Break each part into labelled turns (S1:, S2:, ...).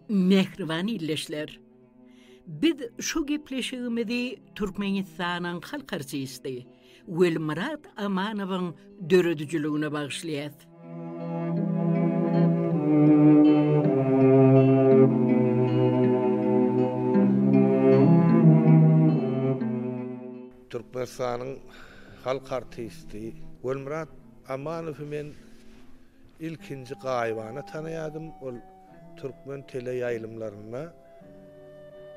S1: Mähriban ildeşler! Biz şu gepleşigimizi Türkmenistanyň halk artisti, Welmyrat Amanowyň döredijiligine bagyşlaýas. Türkmenistanyň halk artisti Welmyrat Amanowy men ilkinji gaýybana tanaýardym, ol türkmen teleýaýlymlarynda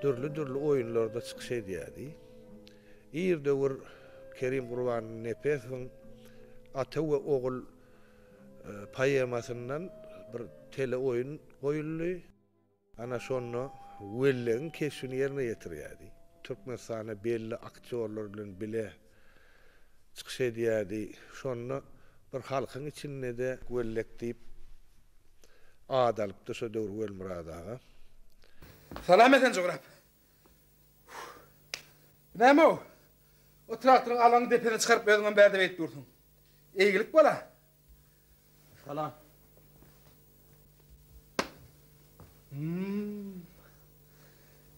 S1: dürli-dürli oýunlarda çykyş edýärdi. Ir döwür Kerim Gurbanow Nepesowyň Ata we ogul poemasyndan bir teleoýun goýuldy. Ana şonda Wellegiň keşbini ýerine ýetirýärdi. Türkmenistana belli aktýorlar bilen bile çykyş edýärdi. Şonda bir halkyň içinde-de Wellek diýip at alypdy şo döwür Welmyrat aga. Salam Esen jograp. Näme-ow? O traktoryň alaňy depesine çykaryp özüňem bärdip eýip dursuň. Eýgilik bol-a. Salam. Hum.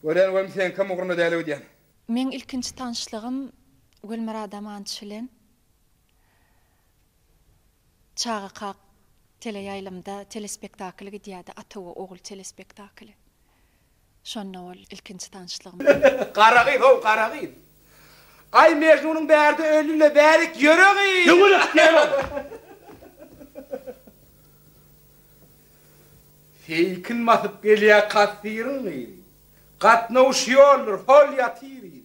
S1: Görýän welin seňkem ugruna däl öýdýän. Meň ilkinji tanyşlygym Gülmyrat Amançy bilen Çaga kak teleýaýlymda telespektakl gidýärdi, Ata we ogul telespektakly. Şonda boldy ilkinji tanyşlygymyz. Gara gyz, how gara gyz. Aý Mejnunyň bärde öllüle bärik ýöre gyz. Döwlet diýen ol. Seýkin basyp gelýä kassiryň gyzy. Gatnawuş ýoldur, hol ýatyr yzy.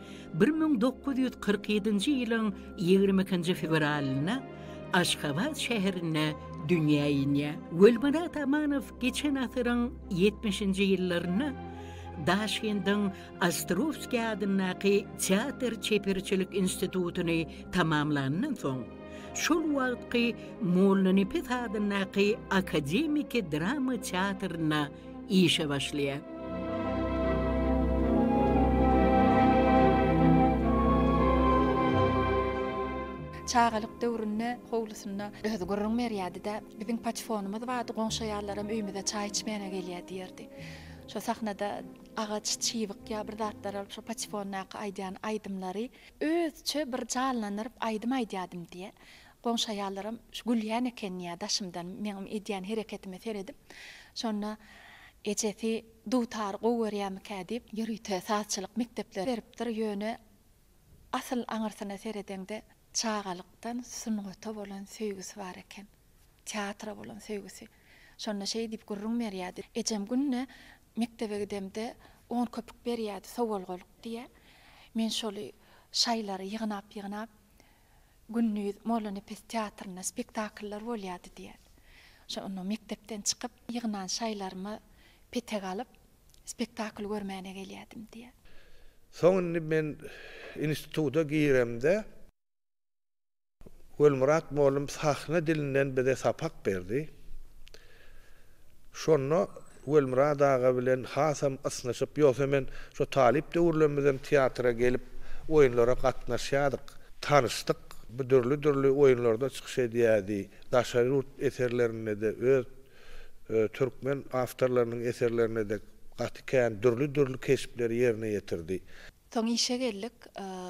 S1: Bir müň dokuz ýüz kyrk ýedinji ýylyň ýigrimi ikinji fewralynda Aşgabat şäherinde dünýä inýär. Gulmyrat Amanow geçen asyryň ýetmişinji ýyllarynda Daşkendiň Ostrowskiý adyndaky teatr çeperçilik institutyny tamamlandan soň, şol wagtky Mollanepes adyndaky akademiki drama teatrynda işe başlaýar. Çagalyk döwründe howlusynda özi gürrüň berýärdi-de, Biziň paçfonymyz bardy, goňşy aýallaram öýümize çaý içmäne gelýär diýerdi. Şo sahnada agaç çybyk ýa bir zatlar alyp şo paçfondaky aýdýan aýdymlary özçe bir janlandyryp aýdym aýdýardym diýýär. Goňşy aýallaram şu gülýän eken ýa daşymdan meňem edýän hereketime seredip, şonda ejesi dutary gowy görýärmikä diýip, ýörite sazçylyk mekdepleri beripdir, ýöne asyl aňyrsyna seredeňde çagalykdan sungata bolan söýgüsi bar eken, teatra bolan söýgüsi. Şonda şeý diýip gürrüň berýärdi, Ejem günde mekdebe gidemde on köpük berýärdi, sowalgalyk diýýär. Men şoly şaýlary ýygnap-ýygnap Gündiz Mollanepes teatrynda spektakllar bolýardy diýýär. Şo onda mekdepden çykyp, ýygnan şaýlarymy petek alyp, spektakl görmäne gelýärdim diýýär. Soň indi men instituta giremde Gelmyrat mollum sahna dilinden bize sapak berdi. Şonda Welmyrat aga bilen hasam ysnyşyp, ýogsa men şo talyp döwürlerimizem teatra gelip, oýunlara gatnaşýardyk, tanyşdyk. Bu dürli-dürli oýunlarda çykyş edýärdi. Daşary ýurt eserlerinde-de, öz türkmen awtorlarynyň eserlerinde-de gaty kän dürli-dürli keşpleri ýerine ýetirdi. Soň işe geldik.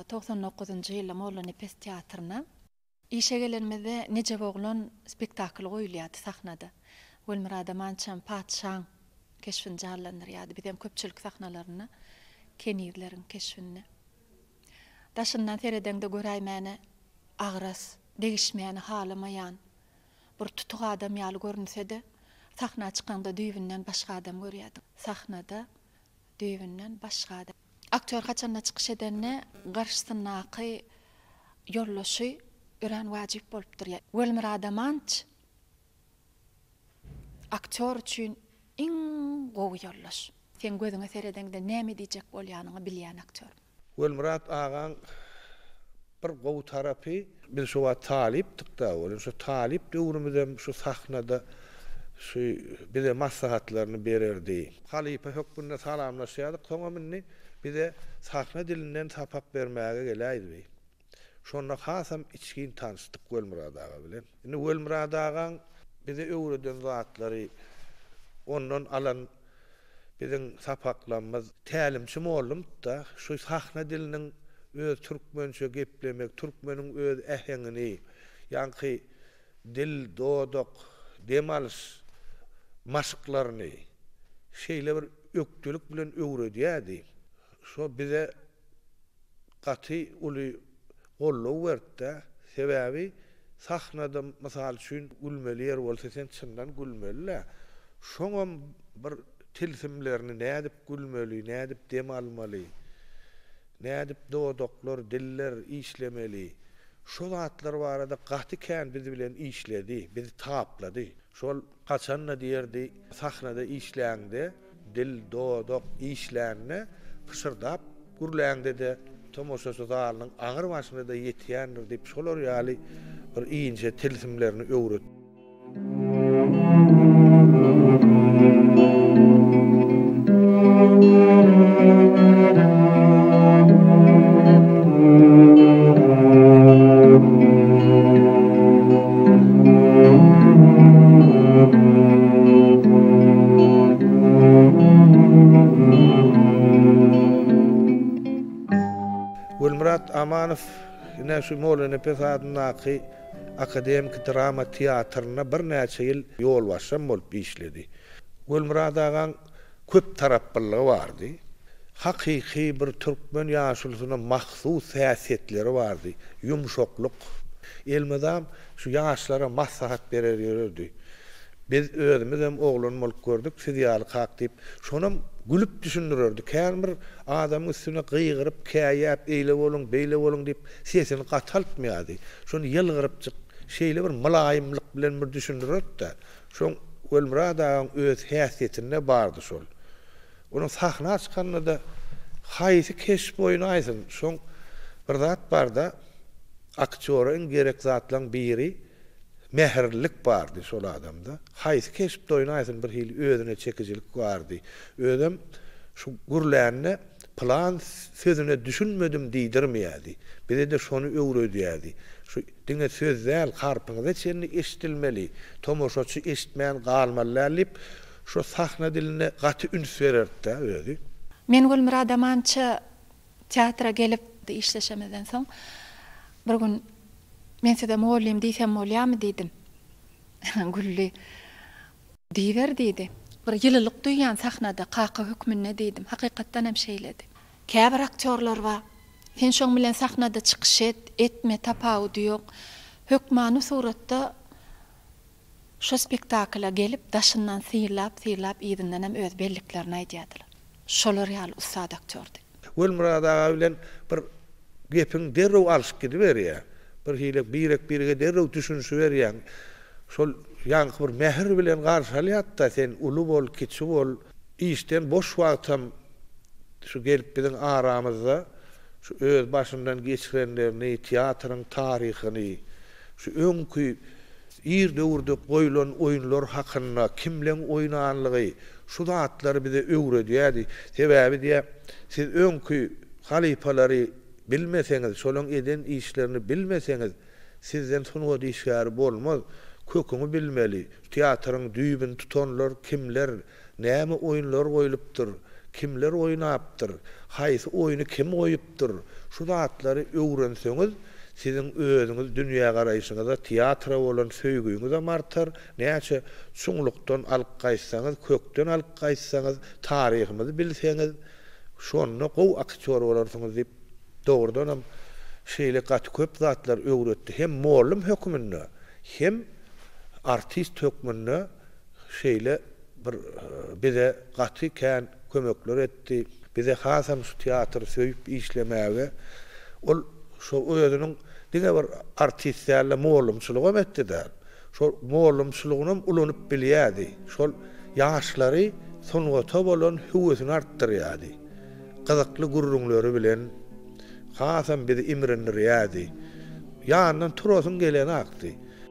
S1: Togsan dokuzynjy ýylda Mollanepes teatryna. Işe gelenimizde Nejep oglan spektakly goýulýardy sahnada. Gülmyrada mançam patyşaň keşbini janlandyrýardy. Bizem köpçülik sahnalarynda kenizleriň keşbinde. Daşyndan seredeňde göräýmäne agras, degişmäni halamaýan bir tutuk adam ýaly görünse-de, sahna çykaňda düýbünden başga adam görýärdiň. Sahnada düýbünden başga adam. Aktýor haçanda çykyş edende garşysyndaky ýoldaşy örän wajyp bolup durýar. Welmyrat Amanç aktýor üçin iň gowy ýoldaş. Seň gözüňe seredeňde näme diýjek bolýanyňy bilýän aktýor. Welmyrat agaň Bir gowy tarapy, biz şo wagt talypdyk-da, ol şo talyp döwrümizem şu sahnada şu bize maslahatlaryny bererdi. Halypa hökmünde salamlaşýardyk, soňam indi bize sahna dilinden sapak bermäge geläýdi. Şonda hasam içgin tanyşdyk Welmyrat aga bilen. Indi Welmyrat agaň bize öwreden zatlary, ondan alan biziň sapaklamyz, tälimçi mollumyz-da, şu sahna diliniň öz türkmençe geplemegi, türkmeniň öz äheňini, ýaňky dil, dodak, dem alyş maşklaryny şeýle bir ökdelik bilen öwredýärdi. Şo bize gaty uly Goldaw beripdä. Sebäbi sahnada mysal üçin gülmeli ýer bolsa sen çyndan gülmelidä. Şoňam bir tilsimlerini nädip gülmeli, nädip dem almaly, nädip dodaklar, diller işlemeli. Şo zatlar barada gaty kän biz bilen işledi, bizi taplady. Şol haçanda diýerdi sahnada işläňde. Dil, dodak işlände pyşyrdap gürläňde-de, tomaşaçy zalynyň aňry başyna-da ýetýändir diýip, şolar ýaly bir inçe tilsimlerini öwret. Gülmyrat Amanow ine şu Mollynepes adyndaky akademiki drama teatrynda birnäçe ýyl ýolbaşçam bolup işledi. Gülmyrat agaň köptaraplylygy bardy. Hakyky bir türkmen ýaşulusyna mahsus häsiýetleri bardy. Ýumşaklyk. Elmydam şu ýaşlara maslahat berer ýörerdi. Biz özümizem oglan bolup gördük, siz ýalykak diýip, şonam gülüp düşündirerdi. Kän bir adamyň üstüne gygyryp, käýäp, eýle boluň, beýle boluň diýip, sesini gataltmaýardy. Şony ýylgyrypjyk, şeýle bir mylaýymlyk bilen bir düşündirerdi-de, Şoň Welmyrat agaň öz häsiýetinde bardy şol. Onuň sahna çykanda-da haýsy keşp oýny aýtsyn, şoň bir zat bar-da, aktýora iň gerek zatlaryň biri mähirlilik bardy şol adamda. Haýsy keşpde oýny aýtsyn, birhili özüne çekijilik bardy. Özem şu gürlände. Pylan sözüne düşünmedim diýdirmeýärdi. Bize-de şony öwredýärdi. Şu diňe söz däl, harpyňyza çenli eşidilmeli, tomaşaçy eşitmän galmaly däl diýip, şo sahna diline gaty üns bererdi-dä özi. Men Gülmyrat Amança teatra gelip, işleşemizden soň bir gün Men size mugallym diýsem bolýarmy diýdim. Güldi. Diýiber diýdi. Bir ýylylyk duýýan sahnada, kaka hökmünde diýdim. Hakykatdan hem şeýledi. Käbir aktýorlar bar. Sen şoň bilen sahnada çykyş et, etme, tapawudy ýok. Hökmany suratda şo spektakla gelip, daşyndan synlap-synlap, yzyndan hem öz belliklerini aýdýardylar. Şolar ýaly ussat aktýordy. Gulmyrat aga bilen bir gepiň derrew alyşyp gidiberýär. Birhili birek-birege derrew düşünişiberýäň. Şol ýaňky bir mähir bilen garşy alýardy-da, sen uly bol, kiçi bol. Işden boş wagtam şu gelip biziň aramyzda şu öz başyndan geçirenlerini, teatryň taryhyny, şu öňki Ir döwürde goýlan oýunlar hakynda, kimleň oýnanlygy, şu zatlar bize öwredýärdi. Sebäbi diýä, siz öňki halypalary bilmeseňiz, şolaň eden işlerini bilmeseňiz, sizden sungat işgäri bolmaz. Köküňi bilmeli. Teatryň düýbüni tutanlar kimler? Näme oýunlar goýlupdyr, kimler oýnapdyr, haýsy oýny kim goýupdyr, şu zatlary öwrenseňiz, siziň özüňiz dünýägaraýşyňyza, teatra bolan söýgiňizem artar, näçe çuňlukdan alyp gaýtsaňyz, kökden alyp gaýtsaňyz, taryhymyzy bilseňiz, şonda gowy aktýor bolarsyňyz diýip, dogrudanam, şeýle gaty köp zatlar öwretdi. Hem mollum hökmünde, hem artist hökmünde şeýle bir bize gaty kän kömekler etdi. Bize hasam şu teatry söýüp işlemäge, ol şo özüniň diňe bir artist däl-de, mugallymçylygam etdi däl. Şol mugallymçylygynam ulanyp bilýärdi. Şol ýaşlary sungata bolan höwesini artdyrýardy. Gyzykly gürrüňleri bilen hasam bizi imrindirýärdi. Ýanyndan turasyň gelenakdy.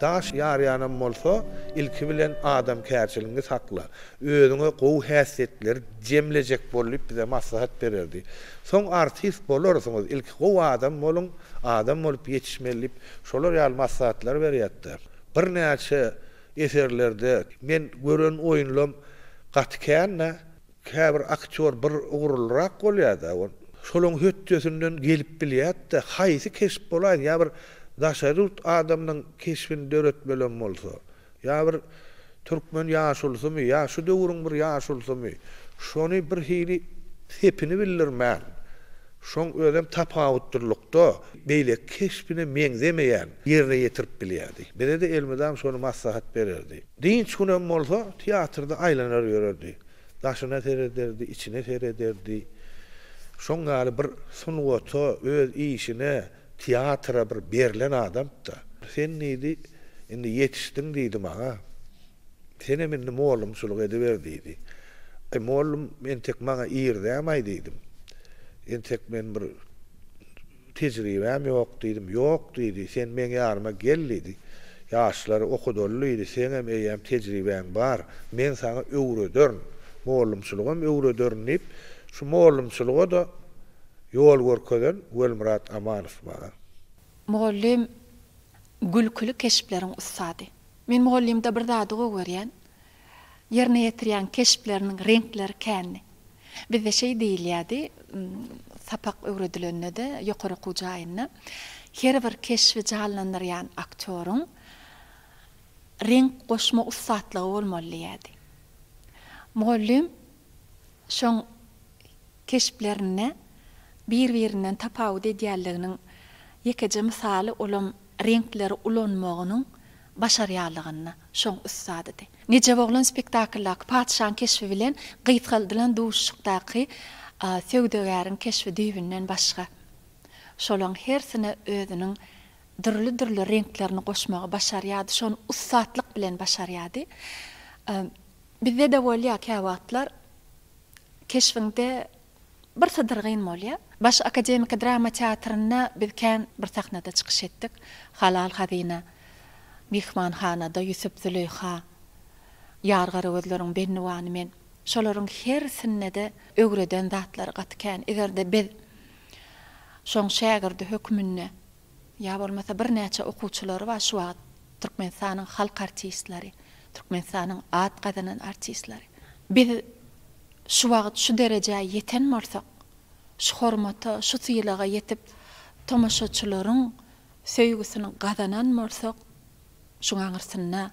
S1: Daş ýarýanam bolsa, ilki bilen adamkärçiligiňi sakla. Özüňe gowy häsiýetleri jemlejek bol diýip bize maslahat bererdi. Soň artist bolarsyňyz, ilki gowy adam boluň, adam bolup ýetişmeli diýip, şolar ýaly maslahatlar berýärdi. Birnäçe eserlerde men gören oýunlam gaty kän-dä. Käbir aktýor bir ugurlyrak bolýar-da, ol şolaň hötdesinden gelip bilýärd-de, haýsy keşp bolaýyn, ýa bir daşary ýurt adamynyň keşbini döretmelem bolsa, ýa bir türkmen ýaşulysymy, ýa şu döwrüň bir ýaşulysymy, şony bir hili sepini bildirmän, şoň özem tapawutlylykda, beýleki keşbine meňzemeýän ýerine ýetirip bilýärdi. Bize-de elmydam şony maslahat bererdi. Dynç günem bolsa, teatrda aýlanar ýörerdi. Daşyna serederdi, içine serederdi. Şoň ýaly bir sungata, öz işine, teatra bir berlen adamdy-da. Sen diýdi, indi ýetişdiň diýdi maňa. Senem indi mollumçylyk ediber diýdi. Aý, mollum entek maňa irdäm-aý diýdim. Entek men bir. Tejribäm ýok diýdim. Ýok diýdi, sen meň ýanyma gel diýdi. Ýaşlary okudaly diýdi, seňem eýýäm tejribäň bar. Men saňa öwrederin. Mollumçylygam öwrederin diýip, şu mollumçylyga-da ýol görkezen Welmyrat Amanow bar. Mugallym gülküli keşpleriň ussady. Men mugallymda bir zady gowy görýän. Ýerine ýetirýän keşpleriniň reňkleri kändi. Bizde şeý diýilýärdi, sapak öwredilende-de, ýokary okuw jaýynda, Her bir keşbi janlandyrýan aktýoryň reňk goşma ussatlygy bolmaly diýýärdi. Mugallym şoň keşplerinde bir-birinden tapawut edýänliginiň ýekeje mysaly olam reňkleri ulanmagynyň başarýanlygyna şoň ussadydy. Nejep oglan spektakldaky Patyşaň keşbi bilen gysgaldylan duşuşykdaky Söwdagäriň keşbi düýbünden başga. Şolaň hersine özüniň dürli-dürli reňklerini goşmagy başarýardy, şony ussatlyk bilen başarýardy. Bizde-de bolýar käwagtlar keşbiňde Bir sydyr gyn bolýa. Baş akademiki drama teatrynda biz kän bir sahnada çykyş etdik. Halal hazyna, Myhmanhanada, Ýusup-Züleýha, Ýar garagözleriň Bennuwany men. Şolaryň hersinde-de öwreden zatlary gaty kän. Eger-de biz şoň şägirdi hökmünde Ýa bolmasa birnäçe okuwçylary bar şu wagt Türkmenistanyň halk artistleri, Türkmenistanyň at gazanan artistleri. Biz şu wagt şu derejä ýeten bolsak, şu hormata, şu sylaga ýetip, tomaşaçylaryň söýgüsini gazanan bolsak, Şuň aňyrsynda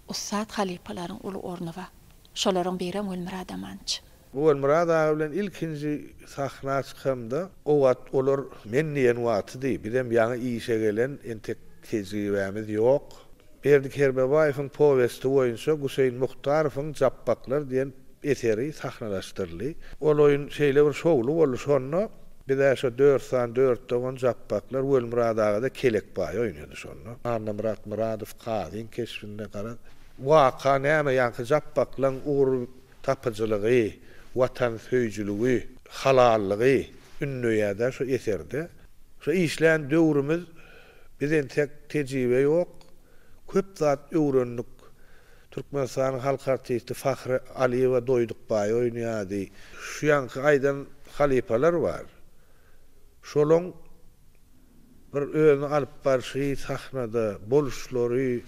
S1: ussat halypalaryň uly orny bar. Şolaryň biri Ogulmyrat Amanç. Ogulmyrat aga bilen ilkinji sahna çykamda, o wagt olar men diýen wagtydy. Bizem ýaňy işe gelen, entek tejribämiz ýok. Berdi Kermebaýewiň powesti boýunça Guseýin Muhtarowyň Japbaklar diýen eseri sahnalaşdyryldy. Ol oýun şeýle bir şowly boldy. Şonda Biz-ä şo dört sany dört dogan Japbaklar Welmyrat aga-da Kelekbaý oýnady şonda. Annamyrat Myradow kazyň keşbinde garaz, waka näme, ýaňky Japbaklaň ugur tapyjylygy, watansöýüjiligi, halallygy ündeýär-dä şo eserde. Şo işlän döwrümiz, biz entek tejribe ýok, köp zat öwrendik. Türkmenistanyň halk artisti Fahri Aliýewa Doýdukbaý oýnaýardy. Şu ýaňky aýdan halypalar bar. Şolaň bir özüni alyp barşy sahnada, boluşlary.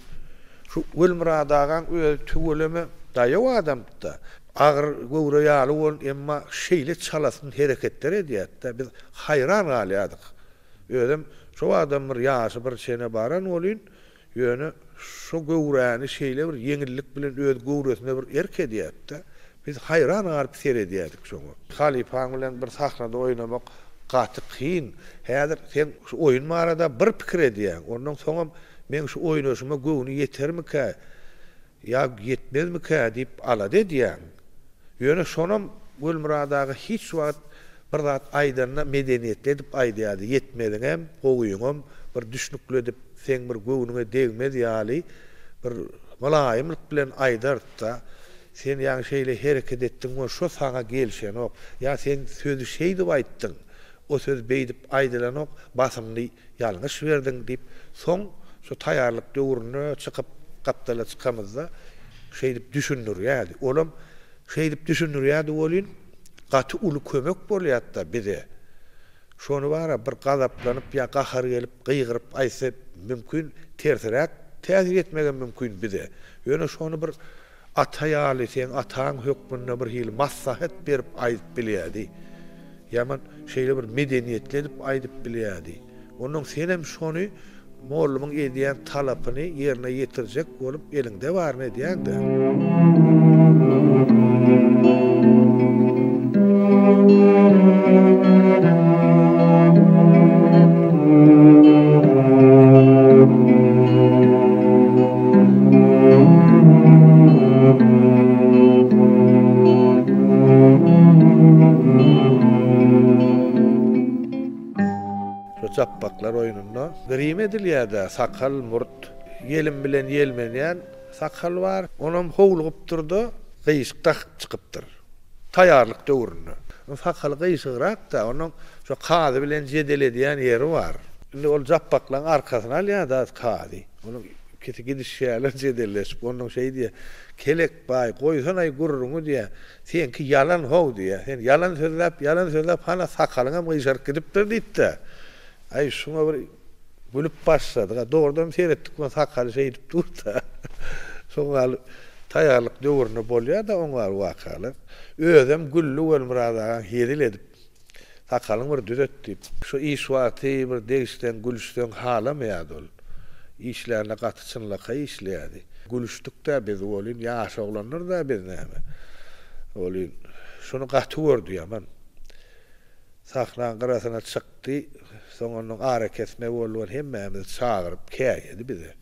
S1: Şu Welmyrat agaň özi tüweleme daýaw adamda. Agyr göwre ýaly bolan, emma şeýle çalasyn hereketler edýärdi-de, biz haýran galýardyk. Özem şo adam bir ýaşy bir çene baran welin, Ýöne şo göwräni şeýle bir ýeňillik bilen öz göwresine bir erk edýärdi-de, biz haýran galyp seredýärdik şoňa. Halypaň bilen bir sahnada oýnamak gaty kyn. Häzir sen şu oýun barada bir pikir edýäň. Ondan soňam meň şu oýnaşyma göwni ýetermikä? Ýa ýetmezmikä diýip alada edýäň. Ýöne şonam Gulmyrat aga hiç wagt bir zat aýdanda medeniýetli edip aýdýardy, ýetmeziňem, gowyňam bir düşnükli edip, seň bir göwnüňe degmez ýaly bir mylaýymlyk bilen aýdardy-da, Sen ýaňy şeýle hereket etdiň we şo saňa gelişenok. Ýa sen sözi şeýdip aýtdyň, o söz beýdip aýdylanok, basymly. Ýalňyş berdiň, diýip, soň şu taýýarlyk döwrüne çykyp, gapdala çykamyzda şeýdip düşündirýärdi. Olam şeýdip düşündirýärdi welin, gaty uly kömek bolýardy-da bize. Şony bar-a, bir gazaplanyp ýa gahary gelip gygyryp aýtsa, mümkin, tersiräk täsir etmegem mümkin bize. Ýöne şony bir Ata ýaly seň ataň hökmünde bir hili maslahat berip aýdyp bilýädi. Ýaman şeýle bir medeniýetli edip aýdyp bilýädi. Onnoň senem şony mollumyň edýän talapyny ýerine ýetirjek bolup eliňde baryny edýäň-dä. Şu japbaklar oýnunda grim edilýär-dä, sakal, murt. Ýelim bilen ýelmenýän sakal bar. Onam howlugypdyr-da, gyýyşyk dakyp çykypdyr. Taýýarlyk döwründe. Onuň sakaly gyşygrak-da, onuň şo kazy bilen jedel edýän ýeri bar. Indi ol Japbaklaň arkasyny alýar-da kazy. Onuň ikisi gidişýärler jedelleşip. Onnoň şeý diýýär, Kelek baý, goýsana-aý gürrüňi diýýär. Seňki ýalan how diýýär. Sen ýalan sözläp, ýalan sözläp hana sakalyňam gyşaryp gidipdir diýip-de. Aý, şuňa bir. Gülüp başladyk. A dogrudanam seretdik we sakaly şeýdip dur-da. Soň gal taýýarlyk döwründe bolýar-da oň gal wakalar. Özem güldi Welmyrat agaň hezil edip, Sakalyňy bir düzet diýip. Şu iş wagty bir degişseň, gülüşseň halamaýardy ol. Işlärinde gaty çynlakaý işleýärdi. Gülüşdik-dä biz welin, ýaş oglandyr-da biz näme. Welin, şuny gaty gördi ýaman. Sahnaň gyrasyna çyk, Ky, soň onnoň arakesme boldugan hemmämizi çagyryp käýedi bize.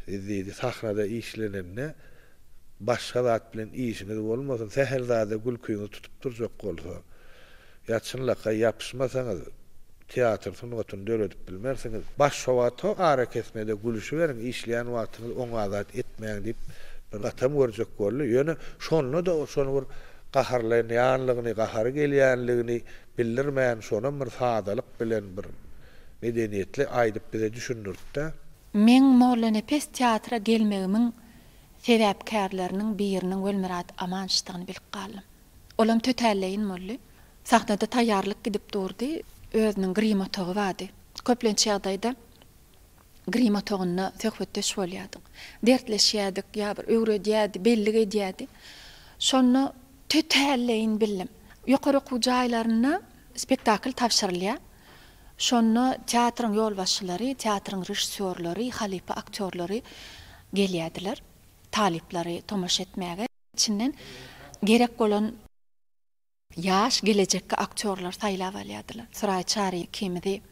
S1: Siz diýdi, sahnada işlenende başga zat bilen işiňiz bolmasyn, sähel zada gülkiňiz tutup durjak bolsa, ýa çynlakaý ýapyşmasaňyz, teatr sungatyny döredip bilmersiňiz. Başowato arakesmede gülüşiberiň, işleýän wagtyňyz oňa zat etmäň diýip bir gatam görjek boldy. Ýöne şonda-da şony bir gaharlaýanlygyny, gahary gelýänligini, Bildirmän şonam bir sadalyk bilen bir medeniýetli aýdyp bize düşündirtdä. Meň Mollanepes teatra gelmegimiň sebäpkärleriniň biriniň Welmyrat Amançdygyny bilip galdym. Olam tötälleýin boldy. Sahnada taýýarlyk gidip durdy. Özüniň grim otagy bardy. Köplenç ýagdaýda Grim otagynda söhbetdeş bolýardyk. Dertleşýärdik, ýa bir öwredýärdi, bellik edýärdi. Şonda tötälleýin bildim. Ýokary okuw jaýlarynda spektakl tabşyrylýar. Şonda teatryň ýolbaşçylary, teatryň režissýorlary, halypa aktýorlary gelýärdiler talyplary tomaşa etmäge. Içinden gerek bolan. Ýaş gelejekki aktýorlary saýlap alýardylar. Suraý Çary ikimizi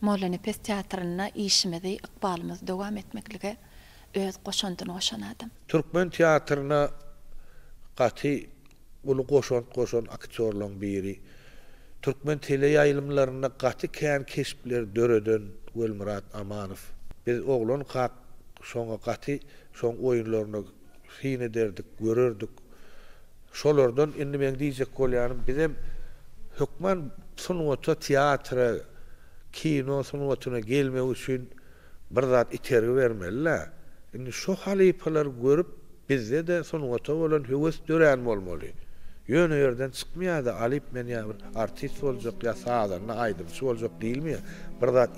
S1: Mollanepes teatrynda işimizi, ykbalymyzy dowam etmeklige öz goşandyny goşan adam. Türkmen teatryna gaty uly goşant goşan aktýorlaryň biri, türkmen teleýaýlymlarynda gaty kän keşpleri döreden Welmyrat Amanow. Biz oglankak şoňa gaty şoň oýunlaryna. Syn ederdik, görerdik. Şolardan indi meň diýjek bolýanym, bizem hökman sungata, teatra, kino sungatyna gelmek üçin bir zat itergi bermeli-dä. Indi şo halypalary görüp, bizde-de sungata bolan höwes dörän bolmaly. Ýöne ýerden çykmaýar-da, Alyp men ýa bir artist boljak, ýa sazanda, aýdymçy boljak diýilmeýär. Bir zat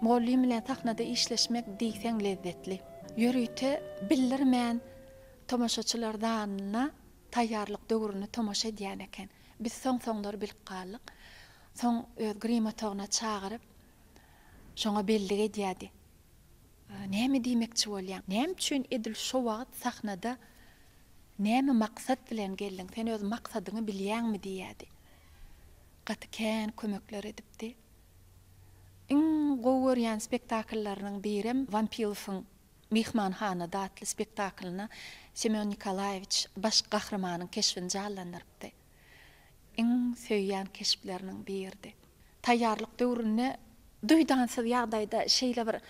S1: Mugallym bilen sahnada işleşmek diýseň lezzetli. Ýörite bildirmän tomaşaçylar zalynda taýýarlyk döwrüne tomaşa edýän eken. Biz soň-soňlar bilip galdyk. Soň öz grim otagyna çagyryp, şoňa bellik edýärdi. Näme diýmekçi bolýaň? Näme üçin edil şo wagt sahnada näme maksat bilen geldiň? Sen öz maksadyňy bilýäňmi? diýýärdi. Gaty kän kömekler edipdi. Iň gowy görýän spektakllarynyň birem Wampilowyň Myhmanhanada atly spektaklyna Semýon Nikolaýewiç baş gahrymanyň keşbini jallandyrypdy. iň söýýän keşpleriniň biridi. Taýýarlyk döwründe duýdansyz ýagdaýda şeýle bir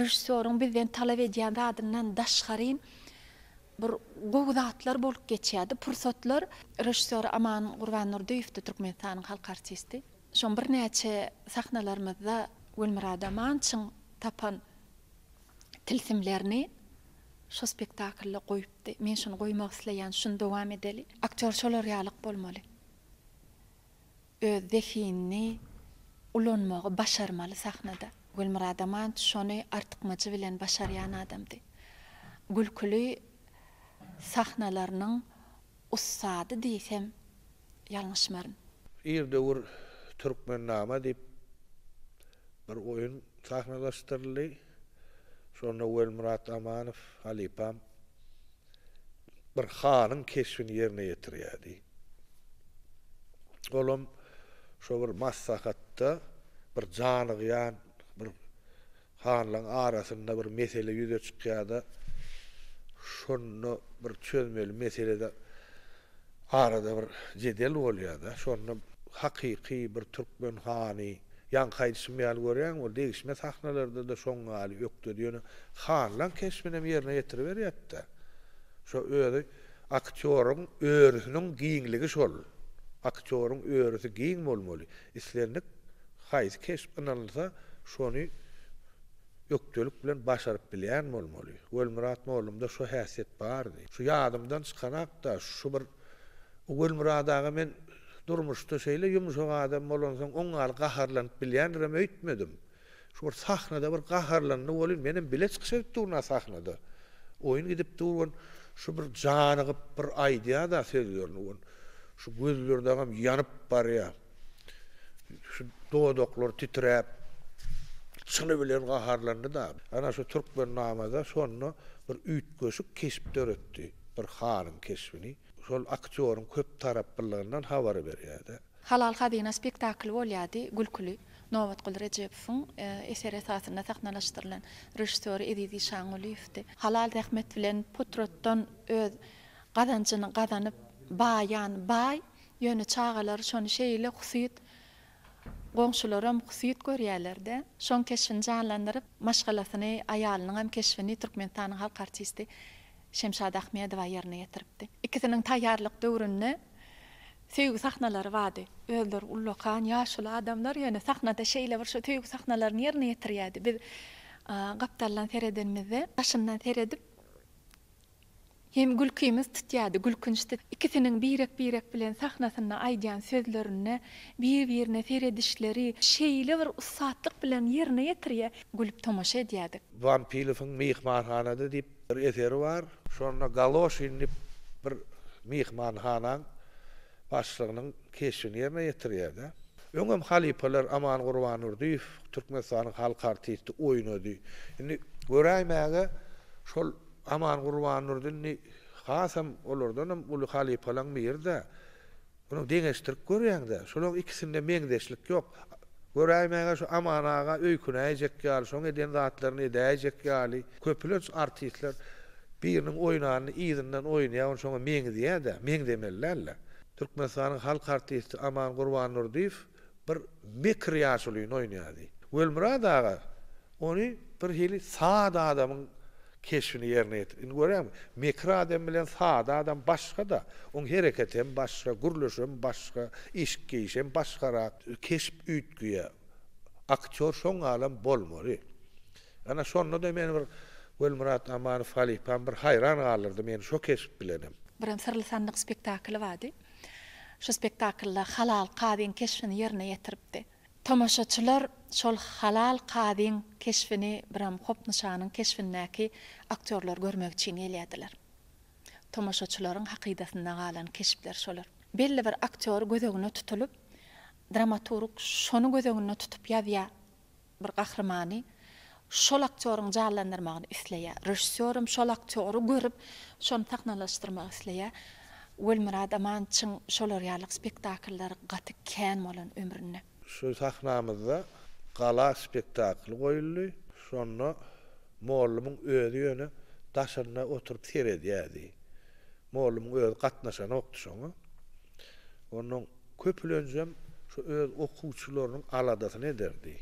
S1: režissýoryň bizden talap edýän zadyndan daşgaryn bir gowy zatlar bolup geçýärdi, pursatlar. Režissýor Aman Gurbandurdyýewdi, Türkmenistanyň halk artisti. Şoň birnäçe sahnalarymyzda Gülmyrat Amançyň tapan tilsimlerini şo spektaklda goýup Ýapdy. Men şuny goýmak isleýän, şuny dowam edeli. Aktýor şolar ýalyk bolmaly. Öz zehinini ulanmagy başarmaly sahnada. Gülmyrat Amanç şony artykmajy bilen başarýan adamdy. Gülküli sahnalarynyň ussady diýsem. ýalňyşmaryn. Ir döwür Türkmennama diýip bir oýun sahnalaşdyryldy. Şonda Welmyrat Amanow halypam bir hanyň keşbini ýerine ýetirýärdi. Olam şo bir maslahatda bir janygýan bir Hanlaň arasynda bir mesele ýüze çykýada şonda bir çözmeli meselede arada bir jedel bolýada şonda hakyky bir türkmen hany ýaňky aýdyşym ýaly görýäňmi ol degişme sahnalardada şoň ýaly ökdedi ýöne hanlaň keşbinem ýerine ýetiriberýätda şo özi aktýoryň örüsiniň giňligi şol aktýoryň örüsi giň bolmaly Islendik haýsy keşp ynanylsa, şony ökdelik bilen başaryp bilýän bolmaly. Welmyrat mollumda şo häsiýet bardy. Şu ýadymdan çykanak-da, şu bir Welmyrat aga men durmuşda şeýle ýumşak adam bolansoň oňňaly gaharlanyp bilýändirem öýtmedim. Şu bir sahnada bir gaharlandy welin menem bile çykyş edip duryn a sahnada. Oýun gidip dur welin şu bir janygyp bir aýdýada sözlerini welin şu gözlerdagam ýanyp barýa. Şu dodaklary titräp çyny bilen gaharlandyda. Ana şu Türkmennamada şonda bir üýtgeşik keşp döretdi. Bir hanyň keşbini. Şol aktýoryň köptaraplylygyndan habary berýärdi. Halal hazyna spektakly bolýardy, gülküli. Nobatguly Rejebowyň eseri esasynda sahnalaşdyrylan. Režissýory Eziz Işangulyýewdi. Halal zähmet bilen putrotdan öz gazanjyny gazanyp baýan baý, ýöne çagalary şony şeýle husyt, goňşularam husyt görýärler-de, şoň keşbini janlandyryp, maşgalasyny, aýalynyňam keşbini Türkmenistanyň halk artisti Şemşat Ahmedowa ýerine ýetiripdi. Ikisiniň taýýarlyk döwründe söýgi sahnalary bardy. Özleri ullakan, ýaşuly adamlar, ýöne sahnada şeýle bir şu söýgi sahnalaryny ýerine ýetirýärdi. Biz gapdaldan seredenimizde, daşyndan seredip hem gülkimiz tutýardy, gülkünçdi. Ikisiniň birek-birek bilen sahnasynda aýdýan sözlerine, bir-birine seredişleri şeýle bir ussatlyk bilen ýerine ýetirýär, gülüp tomaşa edýärdik. Wanpilowyň myhmanhanada diýip, Bir eseri bar. Şonda Galoşin dip bir myhmanhanaň başlygynyň keşbini ýerine ýetirýärde. Öňem halypalar Aman Gurbandurdyýew Türkmenistanyň halk artisti oýnady. Indi göräýmäge şol Aman Gurbandurdy indi hasam olardanam uly halypalaň biri-dä. Muny deňeşdirip görýäň-dä. Şolaň ikisinde meňzeşlik ýok. Göräýmäge şu Aman aga öýkünäýjek ýaly, şoň eden zatlaryny edäýjek ýaly. Köpülenç artistler biriniň oýnanyny yzyndan oýnaýar, ony şoňa meňzeýär-dä. Meňzemeli däl-le. Türkmenistanyň halk artisti Aman Gurbandurdyýew. bir mekir ýaşulyny oýnaýardy. Welmyrat aga ony birhili sada adamyň keşbini ýerine ýetirdi. Indi görýäňmi, mekir adam bilen sada adam başga-da. Oň hereketi hem başga, gürleşi hem başga, eşik-geýişi hem başgarak. Keşp üýtgeýär. Aktýor şoňalam bolmaly. Ana şonda-da meni bir Welmyrat Amanow halypam bir haýran galdyrdy meni şo keşp bilenem. Birem Syrly sandyk spektakly bardy. Şu spektaklda Halal kazyň keşbini ýerine ýetiripdi. Tomaşaçylar şol Halal kazyň keşbini biram Hopnyşanyň keşbindäki aktýorlar görmek üçin gelýärdiler. Tomaşaçylaryň hakydasynda galan keşpler şolar. Belli bir aktýor göz öňüne tutulyp, dramaturg şony göz öňünde tutup ýazýar. bir gahrymany şol aktýoryň janlandyrmagyny isleýär. Režissýoram şol aktýory görüp, şony sahnalaşdyrmagy isleýär. Welmyrat Amançyň şolar ýaly spektakllary gaty kän bolan ömründe. Şu sahnamyzda Gala spektakly goýuldy. Şonda mollumyň özi ýöne daşynda oturyp seredýärdi. Mollumyň özi gatnaşanokdy şoňa. Onuň köpülenjem şu öz okuwçylarynyň aladasyny ederdi.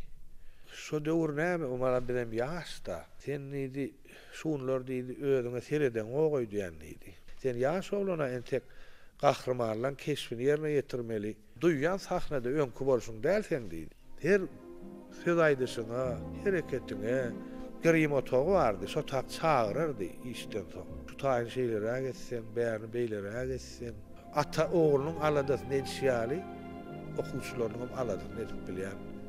S1: Şo döwür näme, Omaram bizem ýaş-da. Sen diýdi, şu günler diýdi, özüňe seredeňok öýdýän diýdi. Sen ýaş oglan-a entek gahrymanlaň keşbini ýerine ýetirmeli. Duýýan sahnada öňki bolşuň däl seň diýdi. Her söz aýdyşyňa, hereketiňe grim otagy bardy, şotag çagyrardy işden soň. Şu taýyny şeýleräk etseň, bärini beýleräk etseň. Ata oglunyň aladasyny edişi ýaly okuwçylarynyňam aladasyny edip bilýän.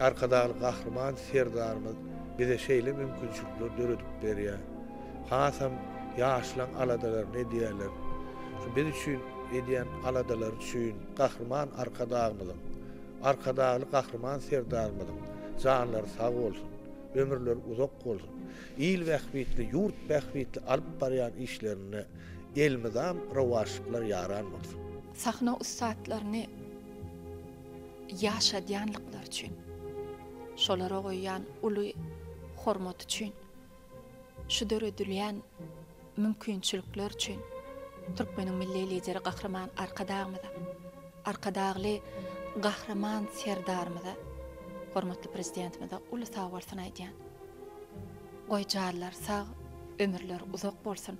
S1: Arkadagly Gahryman Serdarymyz bize şeýle mümkinçilikleri döredip berýär. Hasam ýaşlaň aladalaryny edýärler. Şu biz üçin edýän aladalary üçin Gahryman Arkadagymyzyň, Arkadagly Gahryman Serdarymyzyň janlary sag bolsun, ömürleri uzak bolsun, il bähbitli, ýurt bähbitli alyp barýan işlerinde elmydam rowaçlyklar ýaran bolsun! Sahna ussatlaryny. ýaşadýanlyklary üçin, şolara goýýan uly hormaty üçin, şu döredilýän mümkinçilikler üçin Türkmeniň Milli Lideri Gahryman Arkadagymyza, Arkadagly Gahryman Serdarymyza, hormatly Prezidentimize uly sag bolsun aýdýan. Goýjalar sag, ömürleri uzak bolsun!